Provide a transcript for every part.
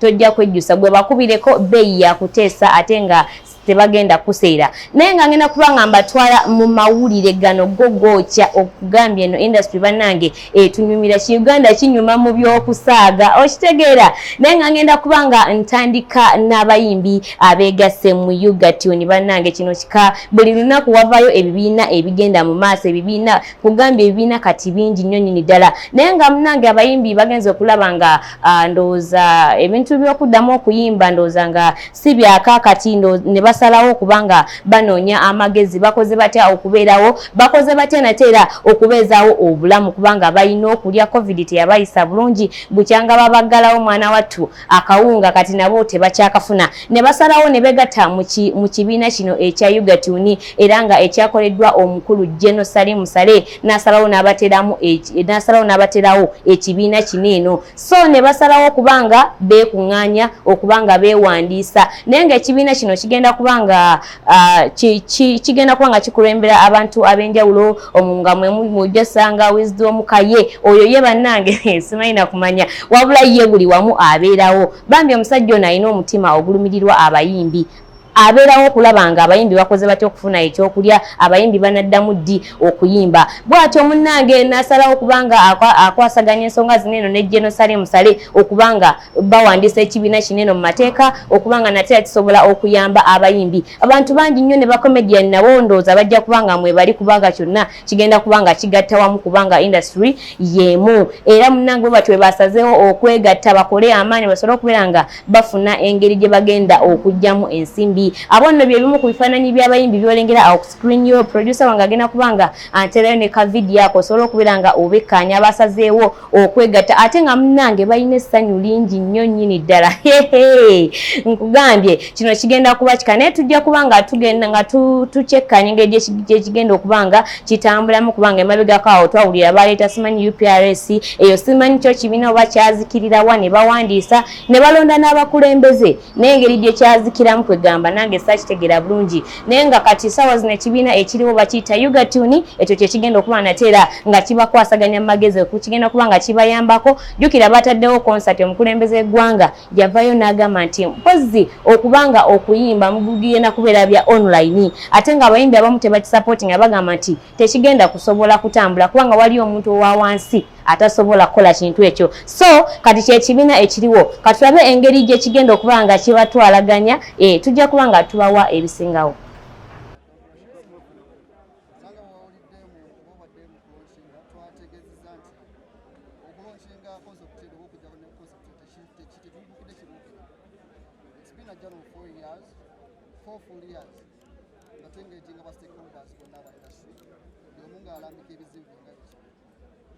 tojja kwejjusa gwe bakubireko bbeeyi yakuteesa ate nga tebagenda kuseera naye nga ngenda kuba nga mbatwala mu mawulire gano go gookya okugambya eno industry bannange etunyumira ki uganda kinyuma mu by'okusaaga okitegeera naye nga ngenda kuba nga ntandika n'abayimbi abeegasse mu ugatuni bannange kino kika buli lunaku wavayo ebibiina ebigenda mu maaso ebibiina kugambya ebibiina kati bingi nnyo nyini ddala naye nga munange abayimbi bagenza okulaba nga Ah, ndowooza ebintu byokuddamu okuyimba ndowooza nga si byakakati ne basalawo okuba nga banoonya amagezi bakoze batya okubeerawo bakoze batya nate era okubeezaawo obulamu kubanga balina okulya covid teyabayisa bulungi bukyanga babaggalawo mwana wattu akawunga kati nabo tebakyakafuna ne basalawo ne begatta mu kibiina kino ekya ugatuni era nga ekyakoleddwa omukulu geno salimu sale nasalawo nabateramu nasalawo nabaterawo ekibiina kino eno so ne basalawo okubanga beekuŋŋaanya okubanga beewandiisa naye ngaekibiina kino kigenda kubanga kigenda kuba nga kikulembera abantu ab'enjawulo nga mwemujasanga wizdi omukaye oyo ye bannange simanyi nakumanya wabula ye buli wamu abeerawo bambi omusajja ono alina omutima ogulumirirwa abayimbi abeerawo okulaba nga abayimbi bakoze batya okufuna ekyokulya abayimbi banaddamu ddi okuyimba bwatyo munnange nasalawo kubanga akwasaganya ensonga zino eno ne jenosale musale okubanga bawandiisa ekibiina kino eno mu mateeka okubanga nate yakisobola okuyamba abayimbi abantu bangi nnyo ne bacomedian nabo ndowooza bajja kubanga mwebali kubanga kyonna kigenda kuba nga kigatta wamu kubanga industry yemu era munange bwe batwe basazeewo okwegatta bakole amaanyi basobole okubeera nga bafuna engeri gye bagenda okugyamu ensimbi abo nno bye bimu ku bifaananyi by'abayimbi byolengera awo ku screen yo producer wange agenda kuba nga anterayo ne ka vidiyo ako osobola okubeera nga obekkaanya basazeewo okwegatta ate nga munange balina essanyu lingi nnyo nnyini ddala nkugambye kino kigenda kuba kika naye tujja kuba nga tugenda nga tukyekkanya engeri gyekigenda okuba nga kitambulamu kubanga emabegako awo twawulira baleeta simanyi uprs eyo simanyi kyo kibiina oba kyazikirirawa ne bawandiisa ne balonda n'abakulembeze nengeri gye kyazikiramu kwegamba nange sakitegera bulungi naye nga kati sawa zino ekibiina ekiriwo bakiyita ugatuni ekyo kyekigenda okuba nateera nga kibakwasaganya mumagezi kukigenda kuba nga kibayambako jukira bataddewo konsati omukulembeze w'eggwanga yavayo n'agamba nti mpozi okubanga okuyimba mugugenda kubeera bya online ate nga abayimbi abamu tebakisapoti nga bagamba nti tekigenda kusobola kutambula kubanga waliyo omuntu owa wansi atasobola kukola kintu ekyo so kati kyekibiina ekiriwo katulabe engeri gyekigenda okuba nga kibatwalaganya e, tujja kuba nga tubawa ebisingawo nga tengeetinga ba stakeholders bonna aba industry buli omu ng'alambika ebizibu nga biki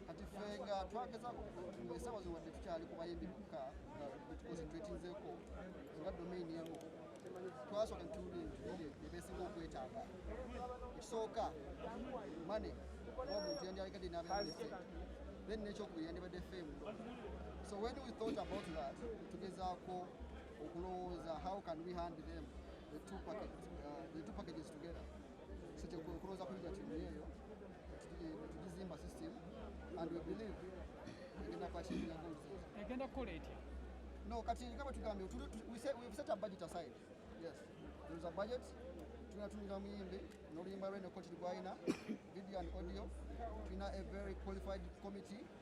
kati ffe nga twagezaako esawa zo wadde tukyali ku bayimbi bokka nga betukonsentratinzeeko nga domain emu twasooka netuwulira ebitubiri byebesinga okwetaaga ekisooka mane oba omuntu yandyalekadde n'abeese then nekyokubiri yandibadde ffe emulo so when we thought about that tugezaako okulowooza how can we hand them the two, packet, uh, the two packages together sikyekuloza kuyiga timu eyo tugizimba system and we believe egenda kwakirira goals egenda kukola etya no kati nga bwe tugambye we've set a budget aside yes there is a budget tulina tulina muyimbi n'oluyimba lwe ne coach lwalina video and audio tulina a very qualified committee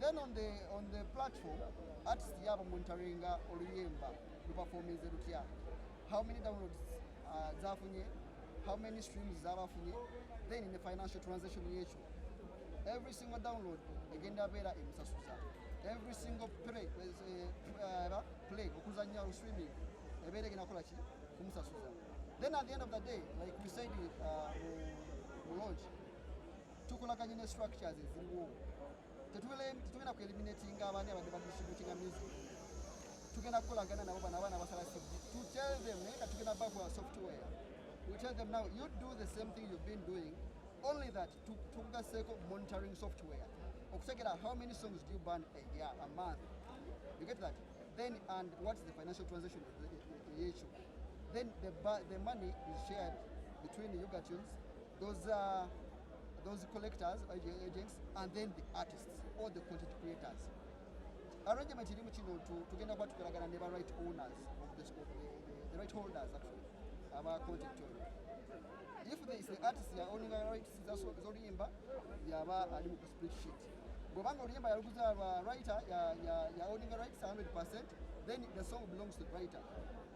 Then on the, on the platform, artist yabo monitoringa oluyimba luperforminze lutya how many downloads uh, zafunye how many streams zabafunye then in the financial transaction yekyo every single download egenda beera emusasuza every single play, uh, uh, play okuzanya lu streaming ebeera egenda kola ki kumusasuza then at the end of the day like we said uh, mu uh, lodge tukolaganye ne structures eziriwo tetugenda kueliminatinga abaani abadde badistributinga music tugenda kukolagana nabo bano abaana basala sibdi to tell them naye nga tugenda bakola software we tell them now you do the same thing you've been doing only that tukugaseeko monitoring software okutegera how many songs do you burn a year a month you get that then and what's the financial transaction issue then the, the money is shared between Yuga Tunes Those, uh, those collectors, uh, agents, and then the artists, all the content creators. Arrangement irimu kino to tugenda kuba tukolagana ne ba right owners of the, school, the, the right holders actually aba content owner. If there is the artist ya owning rights z'oluyimba yaba ali mu split sheet. Bwobanga oluyimba yaluguza aba writer ya, ya, ya owning rights 100% then the song belongs to the writer.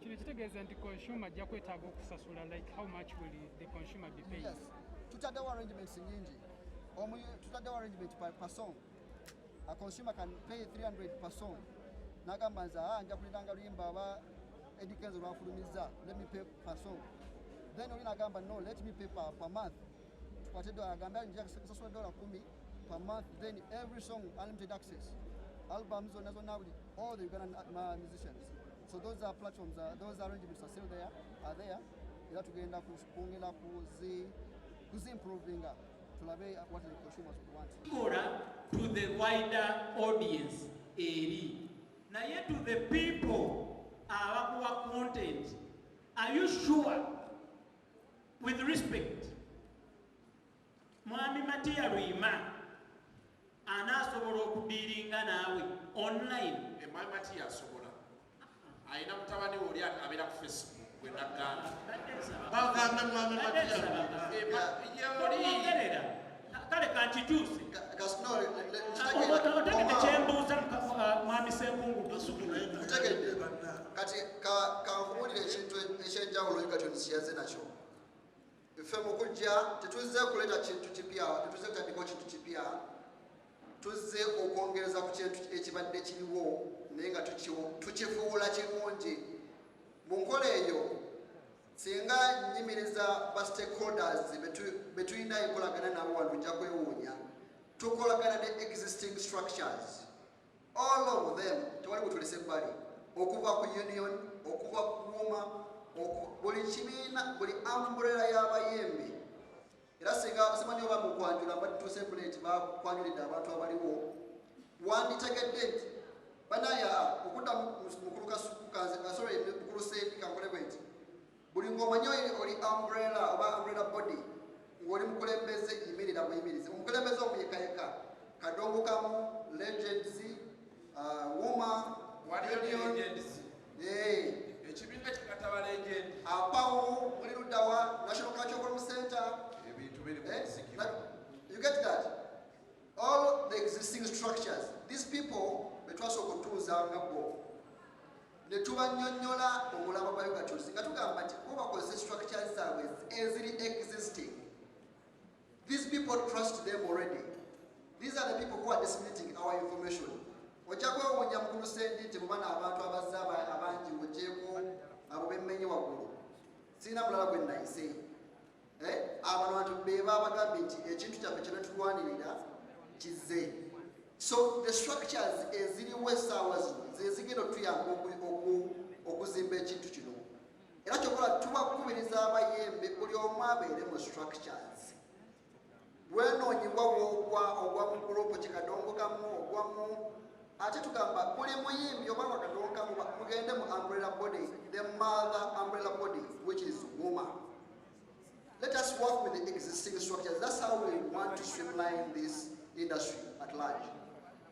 kino kitegeeza nti consumer ajja kwetaaga okusasula like how much will the consumer be paying yes. tutaddewo arrangements nyingi omu tutaddewo arrangement per, per song a consumer can pay 300 per song nagamba nze aa ah, nja kuliranga luyimba aba edikenzo lwafulumizza let me pay per song then oli nagamba no let me pay per, per month tukwate dola agambye alinja kusasula dola kumi per month then every song unlimited access album zonna zonna buli all the ugandan uh, musicians so those are platforms uh, those arrangements are still there are there era tugenda kwongera kuzi kuzimprovinga tulabe what the consumers would want Mura to the wider audience eri naye to the people abakuwa content are you sure With respect, Mwami Matia Rima anaasobola okudiiringa naawe online. Eh, Mwami Matia asobola. Alina mutabani we oli abeera ku Facebook gwe nagamba. Bagamba Mwami Matia Rima. Eh, Yolii. kale kankituuse otegedde kyembuuza mwami senkungu otegedde kati kankubuulira ekintu ekyenjawulo egatoni kiyaze nakyo ffe mukujja tetuzze kuleeta kintu kipya tetuzze kutandika kintu kipya tuzze okwongereza ku kintu ekibadde kiriwo naye nga tukifuula kirungi mu nkola eyo Singa nyimiriza ba stakeholders betulina enkolagana nabo wano ojja kwewuunya tukolagana ne existing structures all of them tewali butulese ebbali okuva ku union okuva ku kuuma buli kibiina buli amburera y'abayembe Era singa simanyi oba mu kwanjula badituuse ku leeti bakwanjulidde abantu abaliwo wanditegedde nti banaye aa okudda mukulu kasukukanze asore mukulu sendi kankole bwenti buli ng'omanyi oli umbrella oba umbrella body ng'oli mukulembeze yimirira muyimirize omukulembeze omuyekayeka kadongo kamu legends uh, wuma waliyo legends ekibiina kye katabala egendi apawo muli luddawa national curriculum center ebintu biri mu nzikiro you get that all the existing structures these people betwasooka okutuuza nga bo ne tubanyonyola omulaba gwa ugatuzi nga tugamba nti bo bakozesa structures zaabwe eziri existing These people trust them already. These are the people who are disseminating our information. Ojja kwewuunya mukulu sendi nti mubana abantu abazze abangi ogyeko abo bemmenye waggulu sirina mulala gwe nayise eh, abantu bantu be babagambye nti ekintu kyaffe kyenetulwanirira kizze so the structures eziriwo esaawa zino zezigenda otuyamba okuzimba ekintu kino era kyokola tubakubiriza abayimbi buli omu abeere mu structures bwenoonyiwa wogwa ogwa mu gurupu kikadongokamu ogwamu ate tugamba buli muyimbi oba wakadongokamu mugende mu umbrella body the mother umbrella body which is woman let us work with the existing structures that's how we want to streamline this industry at large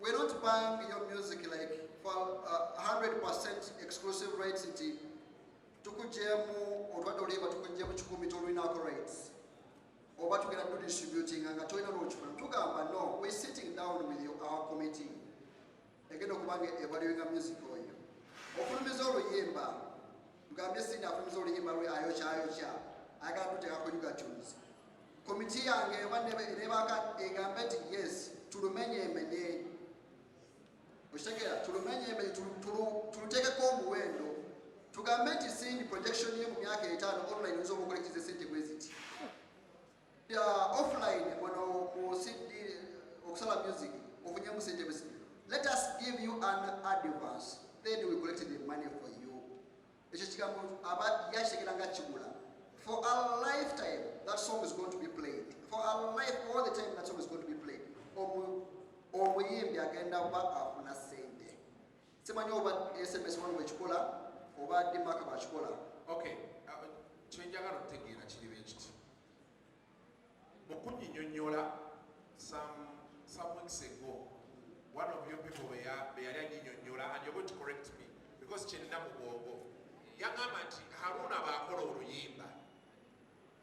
We're not buying your music like for uh, 100% exclusive rights nti tukujemu otwadde olimba tukujemu kikumi tolinako rights oba tugenda tudistributing nga tolina lwokifuna tugamba no we sitting down with you, our committee egenda okubanga evaluinga music oyo ofulumiza oluyimba Mugambye Cindy afulumiza oluyimba lwe ayokyayokya ayagala kuteeka ku Ugatunes. Komiti yange eba nebaaka egambe nti yes tulumenye emenye okitegera tulumenye emenye tuluteekeko omuwendo tugambe nti Cindy projection ye mu myaka etaano online oyinza omukola ekize sente bweziti Bya offline wano ku CD okusala music ofunye mu sente bisi. Let us give you an advance then we collect the money for you. Ekyo kigambo aba yakitegeera nga kigula. For a lifetime that song is going to be played. For a life all the time that song is going to be played. Omuyimbi agenda kuba afuna sente. Simanyi oba sms one wekikola oba dimaka bakikola. Okay, uh, kyenjagala otegeera kiri bwe kiti mu kunyinyonyola some some weeks ago one of your people be yali anyinyonyola and you're going to correct me because kyenina mu bwongo yagamba nti haruna baakola oluyimba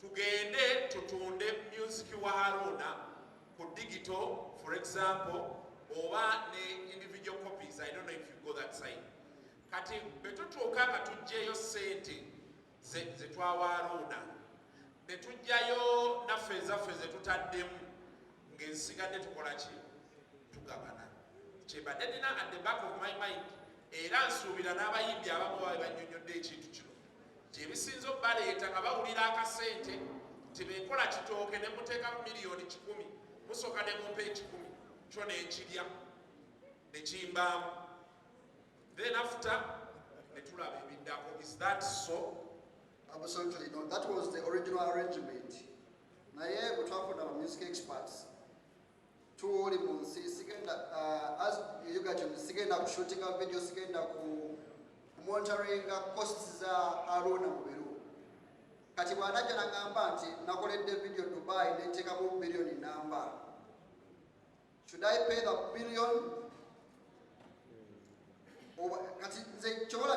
Tugende tutunde music wa Haruna ku digital for example oba ne individual copies I don't know if you go that side. Kati betutuuka nga tujjeyo sente zetwawa Haruna netujjayo naffe ezaffe zetutaddemu ng'ensigadde tukola ki tugabana kyebadde nina at the back of my mind era nsuubira n'abayimbi abamu babe bannyonnyodde ekintu kino Gyebisinze obaleeta nga bawulira akasente nti benkola kitooke ne muteekamu miliyoni kikumi musooka ne mumpa ekikumi kyo nenkirya nekimbaamu then after netulaba ebiddako is that so absolutely no that was the original arrangement naye bwetwafuna ba music experts tuuli mu nsi sigenda uh, sigenda ku shootinga video sigenda ku monitoringa costs za haruna mubiru kati bwanajja nagamba nti nakoledde video dubai nentekamu billioni namba should i pay the billion kati nze kyobola